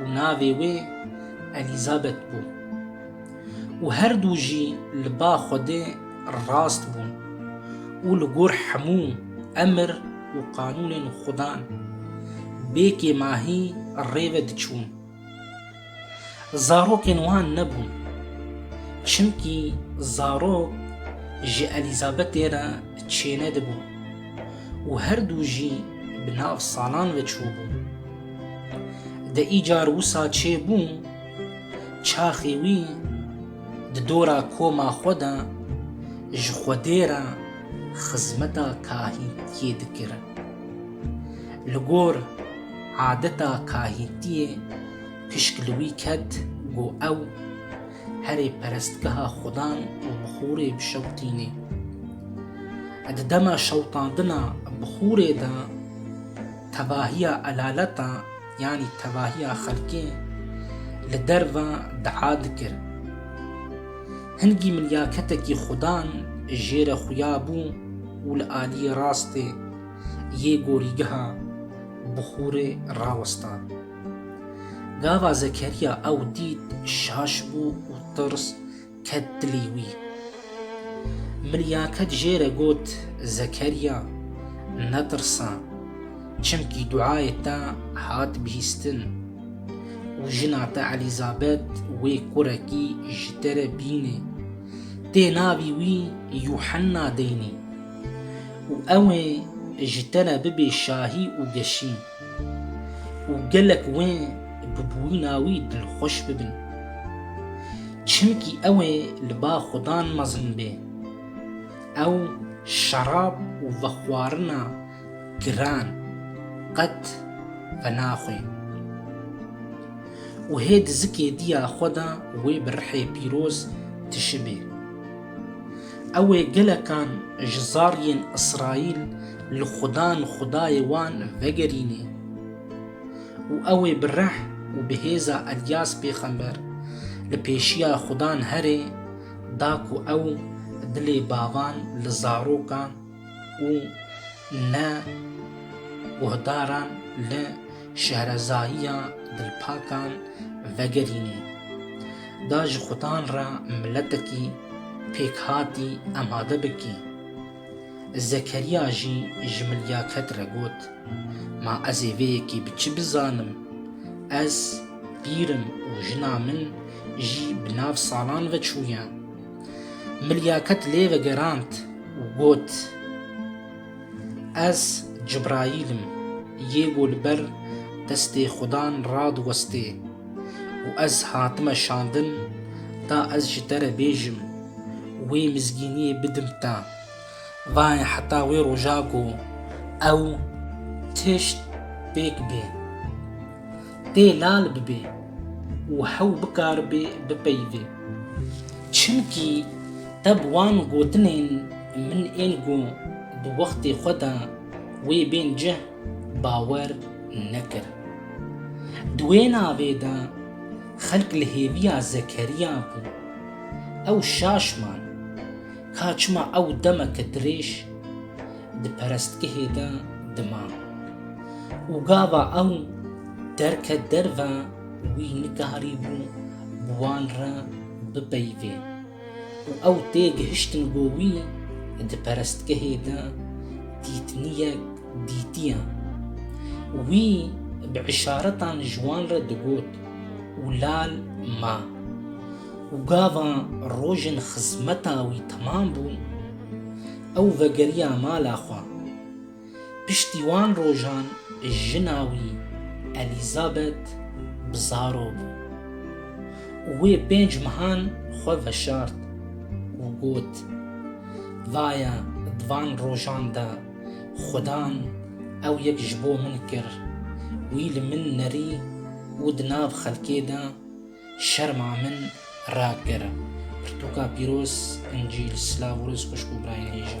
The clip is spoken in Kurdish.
û navê wê Elîzabet bû û her du jî li ba Xwedê rast bûn û li gor hemû emir û qanûnên Xwedan bê kêmahî rê ve diçûn. Zarokên wan nebûn, çimkî zarok ji Elîzabetê re çênedibûn û her du jî bi nav salan ve çûbûn. De îcar wisa çê bû, çaxê wî di dora koma xwe de ji Xwedê re xizmeta kahîntiyê dikir. Li gor adeta kahîntiyê pişk li wî ket ku ew herê perestgeha xwedan û bixûrê bişewtînê. Di dema şewtandina bixûrê de Tevahiya elalatan yanî tevahiya xelkê li derve dua dikir. Hingî min ya ketekî xudan jê re xuya bû û li aliyê rastê yê gorîgeha bixûrê rawesta. Gava Zekeriya ew dît şaş bû û tirs Ket dilê wî. Min ya ket jê re got, Zekerya, netirsa, çimkî duayê te hat bihîstin û jina te Elîzabet wê kurekî ji te re bînê. Tê navî wî Yuhenna deynê û ew ê ji te re bibê şahî û geşîn. û gelek wê bi bûyîna wî dilxweş bibin. Çimkî ew ê li ba Xudan mezin bê. Ew şerab û vexwarina giran qet venaxwe. Û hê di zikê diya xwe de wê bi rihê pîroz tişibê. Ew ê gelekan ji zariyên Îsraîl li xudan xudayê wan vegerîne û ew ê bi reh û bi hêza Elyas pêxember li pêşiya xudan here da ku ew dilê bavan li zaroka û ne guhdaran li şehrezayiya dilpakan vegerînê. Da ji xudan re miletekî pêkhatî emade bikî. Zekeriya jî ji Milyaket re got, Ma ez ê vê yekê bi çi bizanim? Ez pîr im û jina min jî bi nav salan ve çûye. Milyaket lê vegerand û got, Ez Cibraîl im, yê ku li ber destê Xudan radiwestê û ez hatime şandin ta ez ji te re bêjim, wê mizgîniyê bidim te. Vayê heta wê roja ku ew tişt pêk bê, tê lal bibê û hew bikaribê bipeyivê. Çimkî te bi wan gotinên min ên ku di wextê xwe de wê bên cih bawer nekir. Di wê navê de xelk li hêviya Zekeriya bûn. Ew şaş man. Ka çima ew demeke dirêj di perestgehê de dima û gava ew derket derve wî nikarîbû bi wan re bipeyivê û ew tê gihiştin ku wî di perestgehê de dîtiniyek dîtiye. Wî bi îşaretan ji wan re digot û lal ma. û gava rojên xizmeta wî temam bû, ew vegeriya mala xwe. Piştî wan rojan jina wî Elîzabet bi zaro bû û wê pênc mehan xwe veşart û got, Vaya di van rojan de Xudan ew yek ji bo min kir, wî li min nerî û di nav xelkê de, Şerma min rakir. Pirtûka pîroz Încîl Silav û rêz xwişk û birayên hêja.